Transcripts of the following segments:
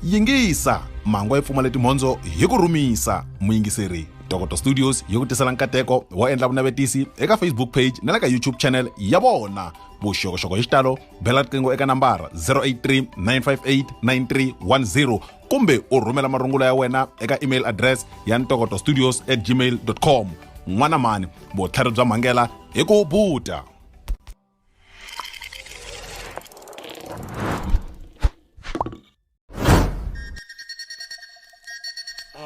yingisa mango yi pfumale timhondzo hi ku rhumisa muyingiseri dokoto studios yi ku tisela nkateko wo endla vunavetisi eka facebook page na le ka youtube channel ya vona vuxokoxoko hi xitalo bela riqingho eka nambara 083 958 9310 kumbe u rhumela marungula ya wena eka email address ya ntokoto studios at gmail com n'wana mhani vutlhari bya mhangela hi ku buta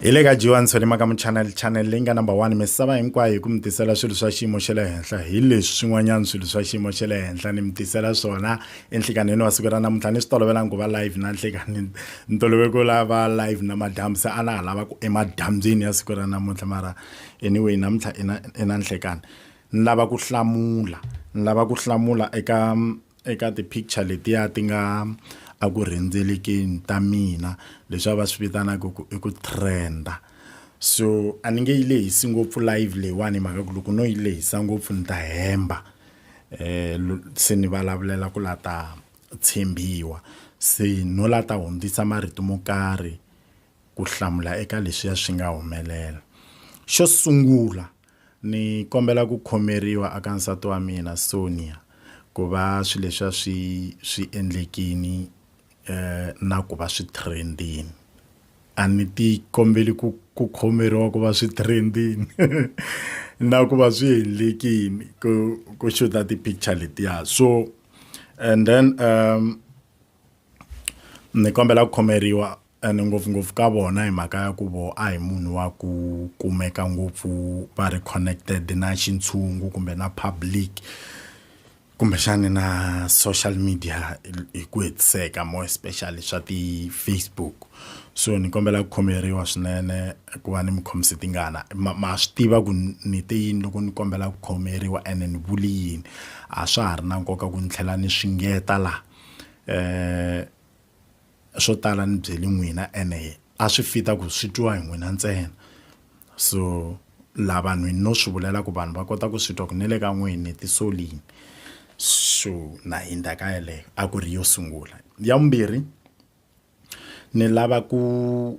hi le ka jiwani solima ka muchanel channel leyi nga number one misava hinkwayo hi ku mi tisela swilo swa xiyimo xa le henhla hi leswi swin'wanyana swilo swa xiyimo xa le henhla ni mi tisela swona enhlikanheni wa siku ra namuntlha ni swi tolovelanga ku va live na nhlikanini ni tolovele ku lava live na madyambu se a na ha lava ku emadyambyini ya siku ra namuntlha mara anyway namuntlha i na i na nhlikani ni lava ku hlamula ni lava ku hlamula eka eka ti-picture letiya ti nga a ku rhendzelekeni ta mina leswi a va swi vitanaka ku i ku trenda so a ni nge yi lehisi ngopfu live leyiwani hi mhaka ku loko no yi lehisa ngopfu ni ta hemba um se ni vulavulela ku la ta tshembiwa se no la ta hundzisa marito mo karhi ku hlamula eka leswiya swi nga humelela xo sungula Ni kombela ku khomeriwa aka nsati wa mina Sonia ku va swi leswiya swi swi endlekini na ku va swi trend-ini a ni ti kombeli ku ku khomeriwa ku va swi trend-ini na ku va swi endlekini ku ku xuta ti-picture letiya so and then . Ni kombela ku khomeriwa ene ngopfungopfu ka vona hi mhaka ya ku voho a hi munhu wa ku kumeka ngopfu va ri connected na xintshungu kumbe na public kumbexani na social media hi ku hetiseka more especially swa ti-Facebook so ni kombela ku khomeriwa swinene ku va ni mi khomise tingana ma ma swi tiva ku ni te yini loko ni kombela ku khomeriwa ene ni vuli yini a swa ha ri na nkoka ku ni tlhela ni swi ngeta la. Eh swo tala ni byeli n'wina ene a swi fit-a ku swi twiwa hi n'wina ntsena so la vanhwini no swi vulela ku vanhu va kota ku swi twa ku ni le ka n'wini ni ti solini so na hindza ka yeleyo a ku ri yo sungula ya vumbirhi. Ni lava ku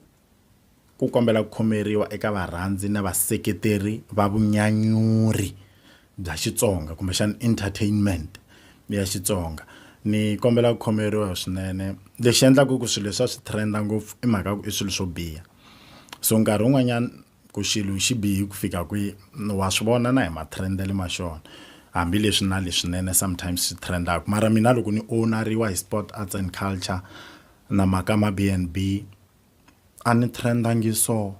ku kombela ku khomeriwa eka varhandzi na vaseketeri va vunyanyuri bya Xitsonga kumbexana entertainment ya Xitsonga ni kombela ku khomeriwa swinene lexi endlaka ku swilo leswi a swi trend-a ngopfu i mhaka ya ku i swilo swo biha so nkarhi wun'wanyana ku xilo xi bihi ku fika kwihi wa swi vona na hi matrend-ele ma xona hambileswi na leswinene sometimes swi trend-aka mara mina loko ni owneriwa hi sport arts and culture na mhaka ma B and B a ni trend-angi so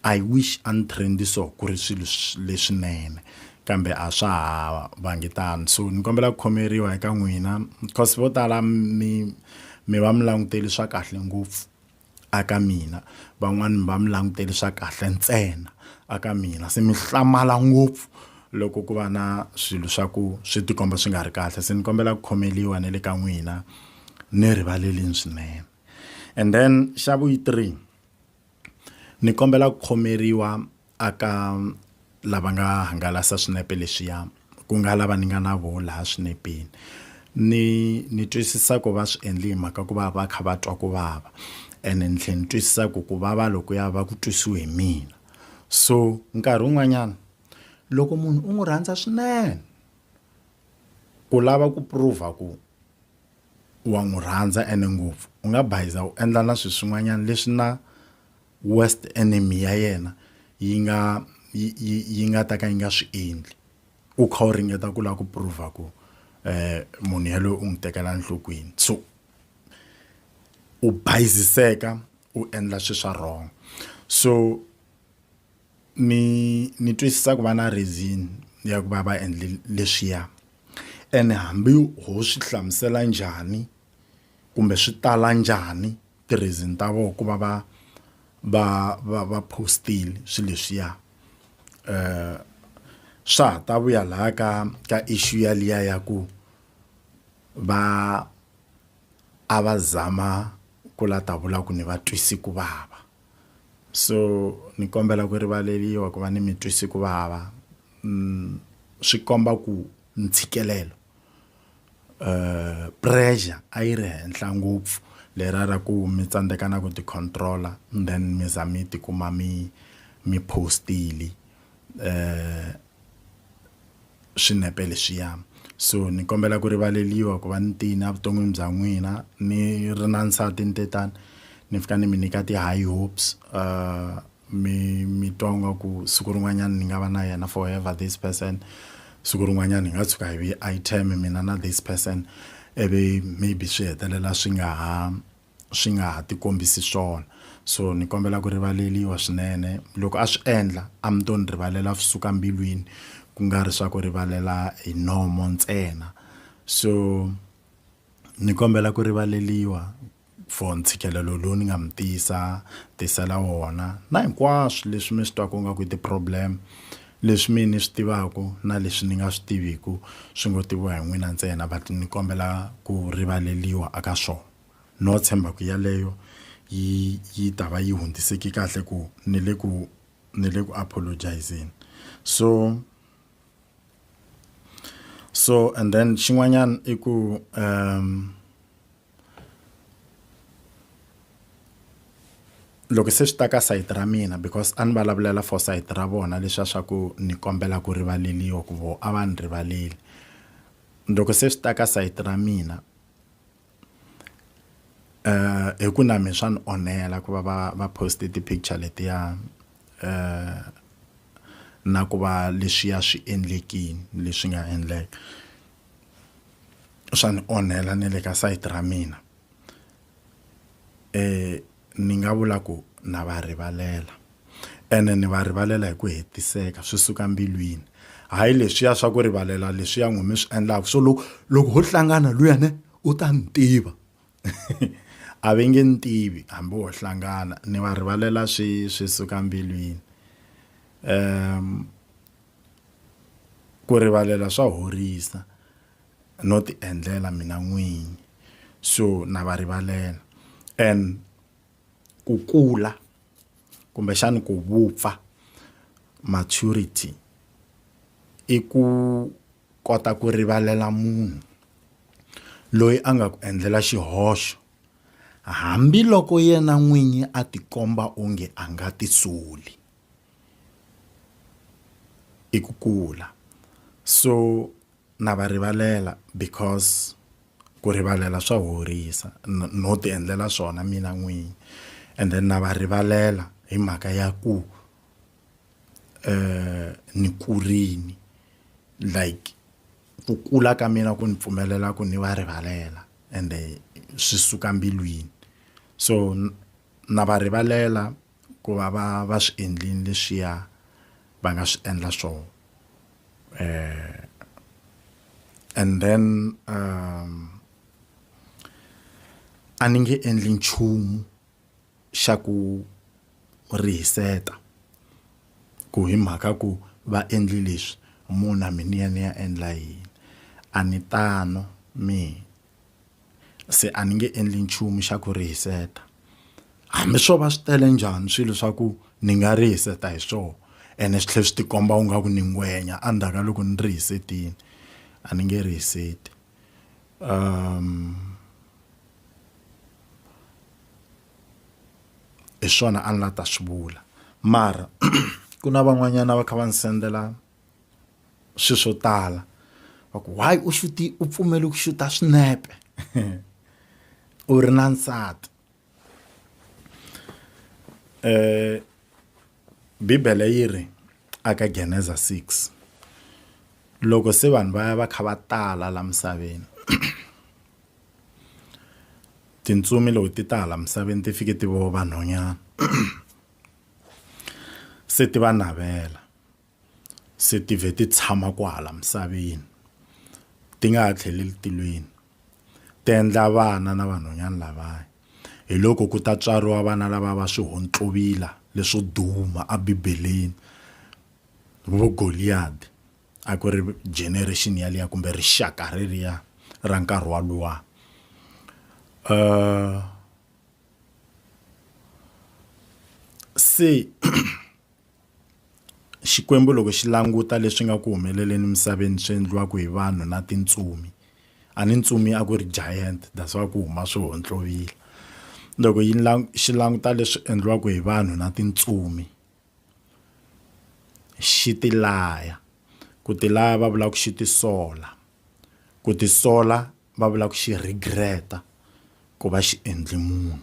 I wish a ni trend-i so ku ri swilo leswinene kambe a swa ha vangi tano so ni kombela ku khomeriwa eka n'wina cause vo tala mi mi va mi langutele swa kahle ngopfu. a ka mina van'wani mi va mi langutele swa kahle ntsena a ka mina se mi hlamala ngopfu loko ku va na swilo swa ku swi tikomba swi nga ri kahle se ni kombela ku khomeliwa na le ka n'wina ni rivalelini swinene and then xa vu yi three ni kombela ku khomeriwa a ka lava nga hangalasa swinepe leswiya ku nga lava ni nga na vona laha swinepeni ni ni twisisa ku va swi endle hi mhaka ku va va kha va twa ku vava ene ni tlhela ni twisisa ku ku vava loko ya va ku twisiwe hi mina so nkarhi wun'wanyana loko munhu u n'wi rhandza swinene ku lava ku prove ku wa n'wi rhandza ene ngopfu u nga bayiza u endla na swilo swin'wanyana leswi na worst enemy ya yena yi nga yi yi yi nga ta ka yi nga swi endli u kha u ringeta ku lava ku prove ku um munhu yaloye u n'wi tekela enhlokweni so u bayiziseka u endla swilo swa wrong so ni ni twisisa ku va na reason ya ku va va endle leswiya ene hambi ho swi hlamusela njhani kumbe swi tala njhani ti-reason ta vona ku va va va va va post-ile swilo leswiya swa ha ta vuya laha ka ka issue ya liya ya ku va a va zama ku la ta vula ku ni va twisi ku vava so ni kombela ku rivaleliwa ku va ni mi twisi ku vava swi komba ku ntshikelelo. pressure a yi ri henhla ngopfu lera ra ku mi tsandzeka na ku ti control-a and then mi za mi tikuma mi mi post-ile swinepe leswiya so ni kombela ku rivaleliwa ku va ni tiyini evuton'wini bya n'wina ni ri na nsati ni te tani ni fika ni mi nyika ti-high hopes . mi mi twa nga ku siku rin'wanyana ni nga va na yena forever this person siku rin'wanyana hi nga tshuka hi vi item mina na this person ivi maybe swi hetelela swi nga ha swi nga ha tikombisi swona so ni kombela ku rivaleliwa swinene loko a swi endla a mi to ni rivalela suka mbilwini ku nga ri swa ku rivalela hi nomo ntsena so. ni kombela ku rivaleliwa for ntshikelelo lowu ni nga mi tisa tisela wona na hinkwaswo leswi mi swi twaka nga ku i ti-problem leswi mi ni swi tivaka na leswi ni nga swi tiviku swi ngo tiviwa hi n'wina ntsena but ni kombela ku rivaleliwa a ka swona no tshemba ku yaleyo yi yi ta va yi hundziseke kahle ku ni le ku ni le ku apologise-zeni so. so and then xin'wanyana i ku um loko se swi ta ka sayiti ra mina because a ni vulavulela for sayiti ra vona leswiya swa ku ni kombela ku rivaleliwa ku voho a va ni rivaleli loko se swi ta ka sayiti ra mina hi ku na me swa ni onhela ku va va va post ti-picture letiya na ku va leswiya swi endlekini leswi nga endleka swa ni onhela na le ka site ra mina . ni nga vula ku na va rivalela ene ni va rivalela hi ku hetiseka swi suka mbilwini hayi leswiya swa ku rivalela leswiya n'wi mi swi endlaka so loko loko ho hlangana luya ne u ta ni tiva a ve nge ni tivi hambi ho hlangana ni va rivalela swi swi suka mbilwini ku rivalela swa horisa no ti endlela mina n'winyi so na va rivalela and ku kula kumbexani ku vupfa maturity i ku kota ku rivalela munhu loyi a nga ku endlela xihoxo hambiloko yena n'winyi a tikomba onge a nga ti soli i ku kula so Na va rivalela because ku rivalela swa horisa no ti endlela swona mina n'winyi and then na va rivalela hi mhaka ya ku eh ni kurini like ku kula ka mina ku ni pfumelela ku ni va rivalela ende swi suka mbilwini so na va rivalela. ku va va va swi endlini leswiya va nga swi endla swona um and then um a ni nge endli nchumu xa ku rihiseta ku hi mhaka ku va endli leswi muna mi ni ya ni ya endla yini a ni tano mi se a ni nge endli nchumu xa ku rihiseta hambi swo va swi tele njhani swilo swa ku ni nga rihiseta hi swona ene swi tlhela swi tikomba u nga ku ni ngwenya endzhaku ka loko ni rihisetile a ni nge rihiseti um hi swona a ni la ta swi vula mara ku na van'wanyana va kha va ni sendela swi swo tala va ku why u xuti u pfumele ku xuta swinepe u ri na nsati eh bibele yi ri aka geneza 6 loko se vanhu va ya va kha va tala la misaveni tintsumi loko ti ta hala misaveni ti fike ti vo vanhonyana se ti va navela se ti vhe ti tshama kwahala misaveni ti nga ha tlheleli tilweni ti endla vana na vanhwanyana lavaya hi loko ku ta tswariwa vana lava va swihontlovila leswo duma ebibeleni vo goliyadi a ku ri generation yaliya kumbe rixaka reriya ra nkarhi wa luwa um se Xikwembu loko xi languta leswi nga ku humeleleni emisaveni swi endliwaka hi vanhu na tintsumi a ni ntsumi a ku ri giant that's why ku huma swi hontlovila loko yi xi languta leswi endliwaka hi vanhu na tintsumi xi ti laya ku ti laya va vulaka ku xi ti sola ku ti sola va vulaka ku xi regret-a ku va xi endle munhu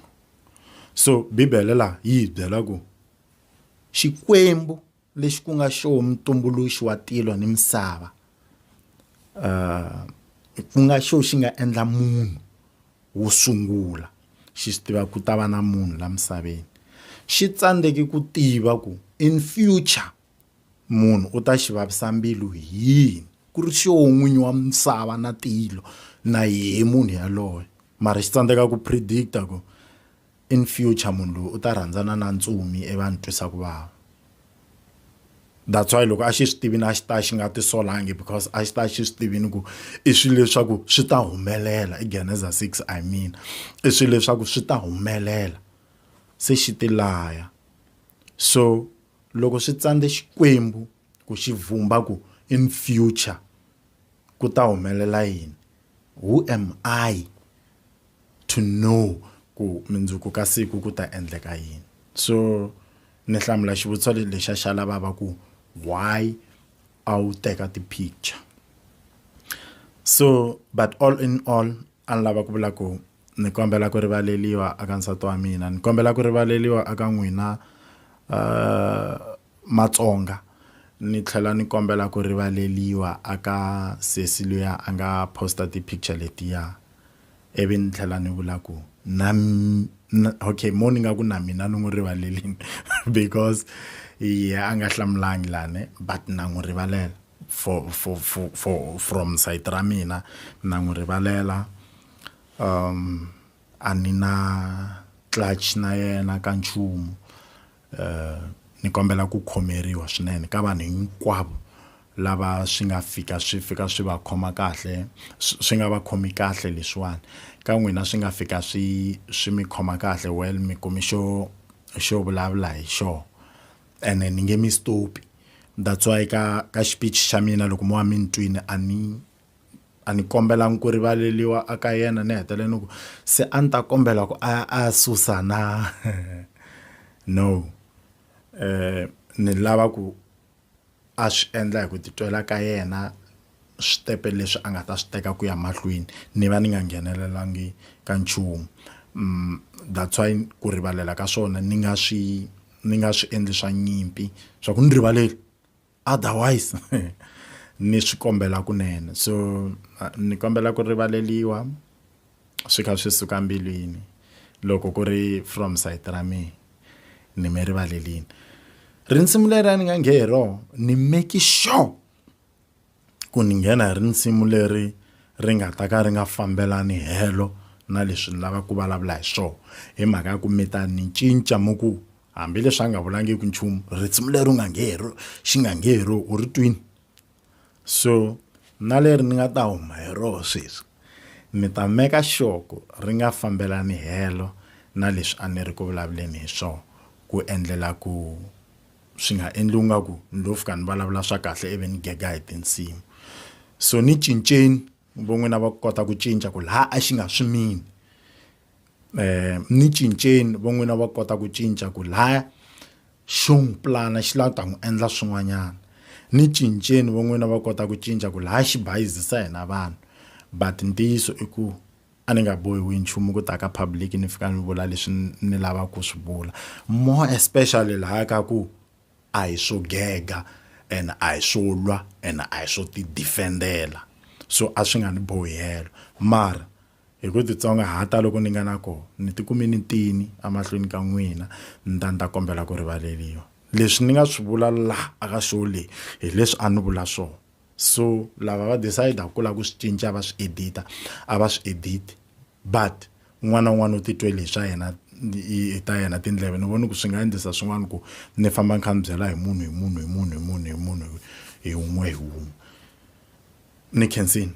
so bibele laha yi hi byela ku. Xikwembu, lexi ku nga xo mutumbuluxi wa tilo ni misava, uh, ku nga xo xi nga endla munhu wo sungula xi swi tiva ku ta va na munhu la misaveni xi tsandzeki ku tiva ku in future munhu u ta xi vavisa mbilu hi yini ku ri xoho n'winyi wa misava na tilo na yehe munhu yaloye mara xi tsandzeka ku predict-a ku In future munhu loyi u ta rhandzana na ntsumi ivi a ni twisa ku vava. That's why loko a xi swi tivini a xi ta xi nga tisolangi because a xi ta xi swi tivini ku i swilo leswaku swi ta humelela i Geneza six I mean i swilo leswaku swi ta humelela se xi ti laya so loko swi tsandze Xikwembu ku xi vhumba ku in future ku ta humelela yini who am I to know ku mindzuku ka siku ku ta endleka yini so ni hlamula xivutiso lexa xa lavava ku why a wu teka ti-picture so but all in all a ni lava ku vula ku ni kombela ku rivaleliwa aka nsati wa mina ni kombela ku rivaleliwa aka n'wina uh, matsonga ni tlhela ni kombela ku rivaleliwa aka sesi luya a nga posta ti-picture letiya ivi ni tlhela ni vula ku na okay mo ni nga ku na mina ni n'wi rivalelini because ye a nga hlamulangi lani but na n'wi rivalela for for for for from side ra mina na n'wi rivalela um a ni na clutch na yena ka nchumu. ni kombela ku khomeriwa swinene ka vanhu hinkwavo lava swi nga fika swi fika swi va khoma kahle swi nga va khomi kahle leswiwani ka n'wina swi nga fika swi swi mi khoma kahle well mi kumi xo xo vulavula hi xona ene ni nge mi stop that's why ka ka xiphiqo xa mina loko mo va mi ni twile a ni. a ni kombelangi ku rivaleliwa a ka yena ni hetelela ni ku se a ni ta kombela ku a a susa na no eh ni lava ku a swi endla hi ku titwela ka yena switepe leswi a nga ta swi teka ku ya mahlweni ni va ni nga nghenelelangi ka nchumu that's why ku rivalela ka swona ni nga swi ni nga swi endli swa nyimpi swa ku ni rivaleli. otherwise ni swi kombela kunene so ni kombela ku rivaleliwa swi kha swi suka mbilwini loko ku ri from site ra mina ni mi rivalelini rinsimu leri a ni nga nghe hi rona ni make sure ku ni nghena hi rinsimu leri ri nga ta ka ri nga fambelani helo na leswi ni lava ku vulavula hi swona hi mhaka ya ku mi ta ni cinca mi ku hambileswi a nga vulangiki nchumu risimu leri u nga nge hero xi nga nge hero u ri twini so na leri ni nga ta huma hi roho sweswi ni ta meka xoko ri nga fambelani helo na leswi a ni ri ku vulavuleni hi swona ku endlela ku swi nga endli nga ku ni lo fika ni vulavula swa kahle ivi ni gega hi tinsimu so ni cinceni von'wina va kota ku cinca ku laha a xi nga swimini um ni cinceni va n'wina va kota ku cinca ku laya xo n'wi pulana xi lava ku ta n'wi endla swin'wanyana ni cinceni va n'wina va kota ku cinca ku laya xi bayizisa hina vanhu but ntiyiso i ku a ni nga bohiwi nchumu ku ta ka public ni fika ni vula leswi ni lavaka ku swi vula more especially laya ka ku a hi swo gega and a hi swo lwa and a hi swo ti defend-ela so a swi nga ni bohi helo mara Hi ku titsongahata loku ni nga na kona, ni tikume ni tini emahlweni ka n'wina, ni ta ni ta kombela ku rivaleriwa. Leswi ni nga swi vula laha aka show leyi, hi leswi a ni vula swona. So lava va decide-aka ku lava ku swi cinca va swi edit-a, a va swi edit-i. But un'wana na un'wana u titwele hi swa yena, hi ta yena tindleve. Ni vone ku swi nga endlisa swin'wana ku ni famba ni kha ni byela hi munhu, hi munhu, hi munhu, hi munhu, hi munhu, hi wun'we hi wun'we. Ni khensile.